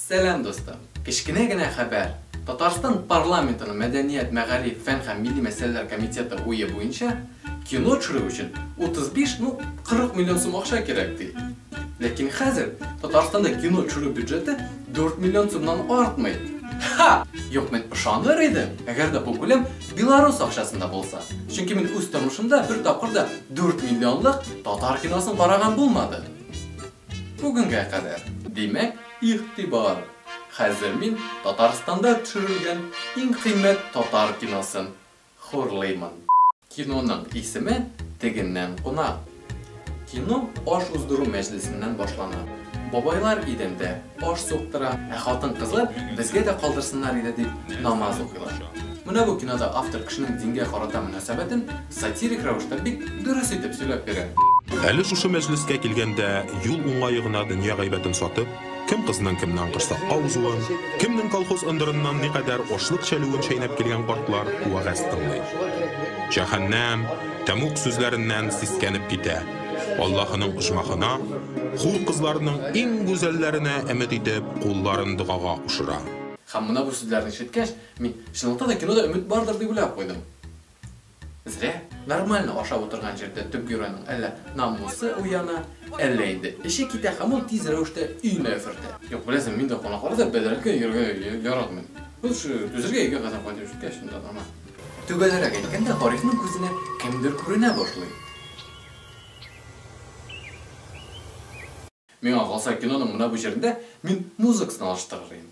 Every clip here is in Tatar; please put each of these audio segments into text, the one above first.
Сәлам дустым! Кечкенә генә хәбәр! Татарстан парламентының мәдәният, мәгариф, фән һәм милли мәсьәләләр комитеты уе буенча, кино төшерү өчен 35, ну, 40 миллион сум акча кирәк, ди. Ләкин хәзер Татарстанда кино төшерү бюджеты 4 миллион сумнан артмый. Ха! Юк, мин ышаныр идем, әгәр дә бу күләм белорус акчасында булса. Чөнки мин үз тормышымда бер тапкыр да 4 миллионлык татар киносын караган булмады. Бүгенгә кадәр. Димәк. Игътибар! Хәзер мин Татарстанда төшерелгән иң кыйммәт татар киносын хурлыймын. Киноның исеме Тегеннән кунак. Кино аш уздыру мәҗлесеннән башлана. Бабайлар идәндә аш суктыра, ә хатын-кызлар безгә дә калдырсыннар иде дип намаз укыйлар. Менә бу кинода автор кешенең дингә карата мөнәсәбәтен Сатирик рәвештә бик дөрес итеп сөйләп бирә. Әле шушы мәҗлескә килгәндә юл уңае гына дөнья гайбәтен сатып, кем кызның кемнән корсакка узуын, кемнең колхоз ындырыннан никадәр ашлык чәлүен чәйнәп килгән картлар вәгазь тыңлый. Җәһәннәм, тәмуг сүзләреннән сискәнеп китә, Аллаһының оҗмахына, хур кызларының иң гүзәлләренә өмет итеп, кулларын догага кушыра. Һәм менә бу сүзләрне ишеткәч, мин, чынлыкта да, кинода өмет бардыр дип уйлап куйдым. Зря. Нормально ашап утырган җирдә төп геройның әллә намусы уяна, әллә инде эче китә һәм ул тиз рәвештә өенә өфертә. Юк, беләсең, мин дә кунакларда бәдрәфкә йөрергә яратмыйм. Без шушы түзергә өйгә кадәр кайтып җиткәч, шунда нормаль. Төгәлрәк әйткәндә, Гарифның күзенә кемдер күренә башлый. Миңа калса, киноның менә бу җирендә мин музыкасын алыштырыр идем.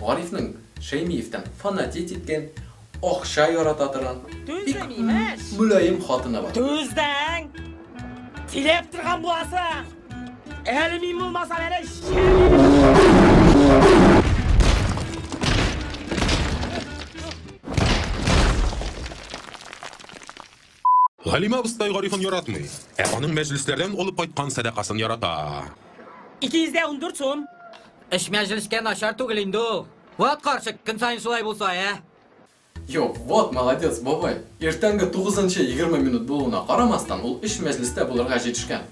Гарифның Шәймиевтан фанатеть иткән, акча ярата торган, бик мөлаем хатыны бар. Түздең! Тиләп торган буласың! Әле мин булмасам, әле шәле! Галимә абыстай Гарифын яратмый, ә аның мәҗлесләрдән алып кайткан сәдакасын ярата. 214 сум. Эш мәҗлескә начар түгел инде ул. Вот карчык, көн саен шулай булса, ә? Юк, вот молодец, бабай. Иртәнге тугызынчы егерме минут булуына карамастан, ул эш мәҗлестә булырга җитешкән.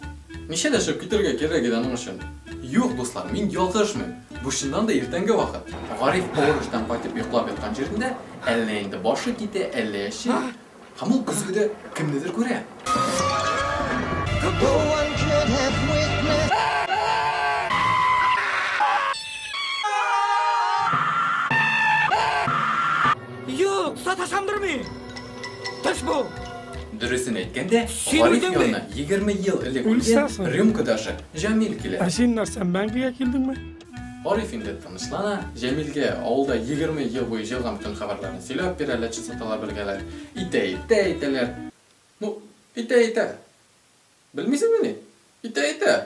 Ничә дәшеп китәргә кирәк иде аның өчен? Юк, дуслар, мин ялгышмыйм. Бу чыннан да иртәнге вакыт. Гариф авыр эштән кайтып йоклап яткан җирендә, әллә инде башы китә, әллә әче, Һәм ул көзгедә кемнедер күрә. Юк, саташамдыр мин. Төш бу. Дөресен әйткәндә, Гариф янына 20 ел элек үлгән рюмкадагы Җамил килә. Ә син нәрсә, мәңгегә килдеңме? Ариф инде тынычлана, Җәмилгә авылда 20 ел буе җылган бөтен хәбәрләрне сөйләп бирә, әллә частоталар бергәләр. Итә, итә, әйтәләр. Ну, итә, итә. Белмисеңме ни? Итә, итә.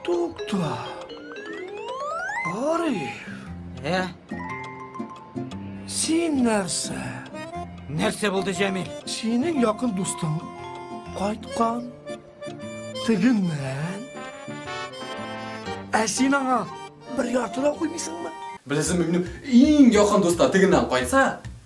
Тукта. Ариф. Ә? Син нәрсә? Нәрсә булды, Җәмил? Синең якын дустың кайткан. Тегеннән. Ә син аңа бер ярты да куймыйсыңмы? Беләсеңме, минем иң якын дуста тегеннән кайтса,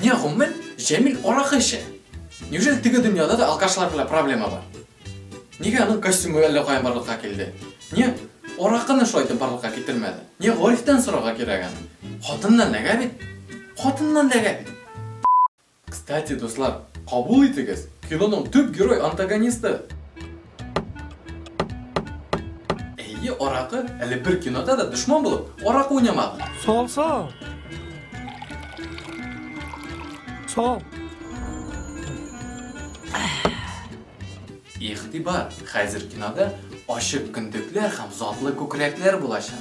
Менә гомумән Җәмил аракы эчә. Неужели теге дөньяда да алкашлар белән проблема бар? Нигә аның костюмы әллә каян барлыкка килде? Нигә аракыны шулай итеп барлыкка китермәде? Нигә Гарифтан сорарга кирәк аны? Хатыннан ләгә бит. Хатыннан ләгә бит. Кстати, дуслар, кабул итегез, киноның төп герой антагонисты. Әйе, аракы әле бер кинода да дошман булып, аракы уйнамады. Сал, сал. Сал. Игътибар, хәзер кинода ачык көндекләр һәм затлы күкрәкләр булачак.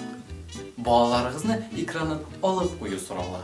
Балаларыгызны экраннан алып кую сорала.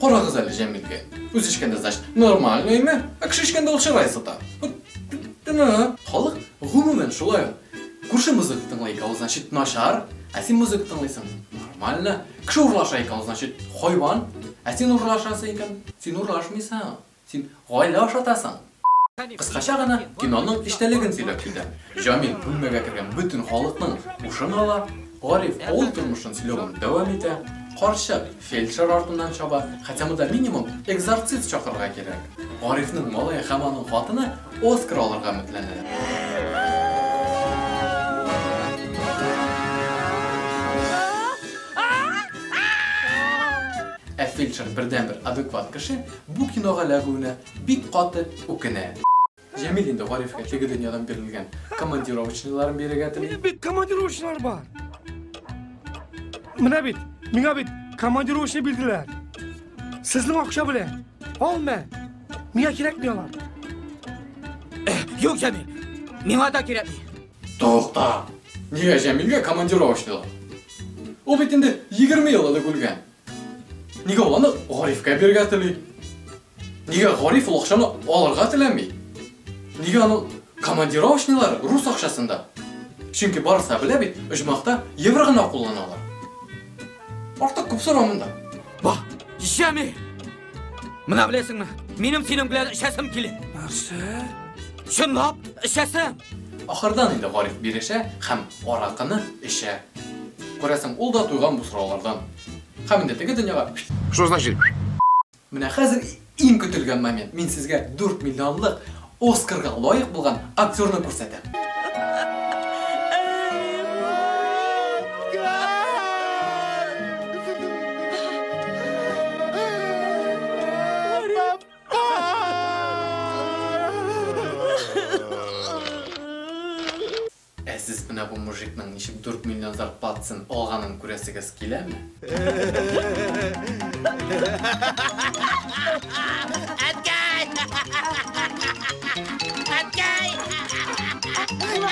Карагыз әле Җәмилгә. Үз эчкәндә, значит, нормальныймы? Ә кеше эчкәндә ул чырай сыта. Халык гомумән шулай. Күрше музыка тыңлый икән, ул значит начар. Ә син музыка тыңлыйсың. Нормально. Кеше урлаша икән, ул значит хайван. Ә син урлашасың икән, син урлашмыйсың. Син гаилә ашатасың! Кыскача гына киноның эчтәлеген сөйләп китәм. Җамил бүлмәгә кергән бөтен халыкның һушын ала, Гариф авыл тормышын сөйләвен дәвам итә, карчык фельдшер артыннан чаба, хотя монда минимум экзорцист чакырырга кирәк. Гарифның малае һәм аның хатыны Оскар алырга өметләнәләр. Ә фельдшер бердәнбер адекват кеше. Бу кинога эләгүенә бик каты үкенә. Җәмил инде Гарифка теге дөньядан бирелгән командировочныйларын бирергә тели. Минем бит командировочныйлар бар. Менә бит, миңа бит командировочный бирделәр. Сезнең акча белән. Алма. Миңа кирәкми алар. Э, юк, Җәмил. Миңа да кирәкми. Тукта. Нигә Җәмилгә командировочныйлар? Ул бит инде 20 ел элек үлгән. Нигә ул аны Гарифкә бирергә тели? Нигә Гариф ул акчаны алырга теләми? Нигә аның командировочныйлары рус акчасында? Чөнки барысы да белә бит, оҗмахта евро гына кулланалар. Артык күп сорау монда. Ба, җәми! Мына беләсеңме? Минем синең белән эчәсем килә. Нәрсә? Чынлап эчәсем. Ахырдан инде Гариф бирешә һәм аракыны эчә. Күрәсең, ул да туйган бу сораулардан. Һәм инде теге дөньяга Что значит? Менә хәзер иң көтелгән момент. Мин сезгә 4 миллионлык Оскарга лаек булган актерны күрсәтә. Ә сез менә бу мужикның ничек дүрт миллион зарплатасын алганын күрәсегез киләме? Әткәй! Әткәй!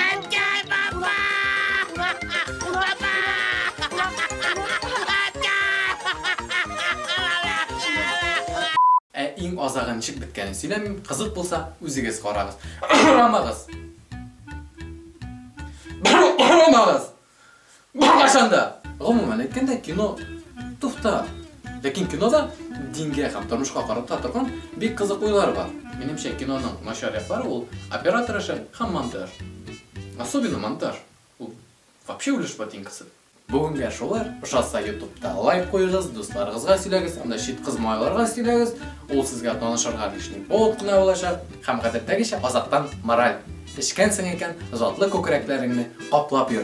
Әткәй, папа! Папа! Әткәй! Ә иң азагы ничек беткәнен сөйләмим, кызык булса, үзегез карагыз. Арамагыз! Бармагыз! Бармасын да! Гомумән әйткәндә, кино туфта. Ләкин кинода дингә һәм тормышка карата торган бик кызык уйлар бар. Минемчә, киноның начар яклары ул оператор эше һәм монтаж. Особенно монтаж. Ул вообще үлеш ботинкасы. Бүгенгә шулай, ошатса ютубта лайк куегыз, дусларыгызга сөйләгез, анда чит кыз малайларга сөйләгез, ул сезгә танышырга лишний повод кына булачак. Һәм гадәттәгечә азактан мораль. Эчкәнсең икән, затлы күкрәкләреңне каплап йөр.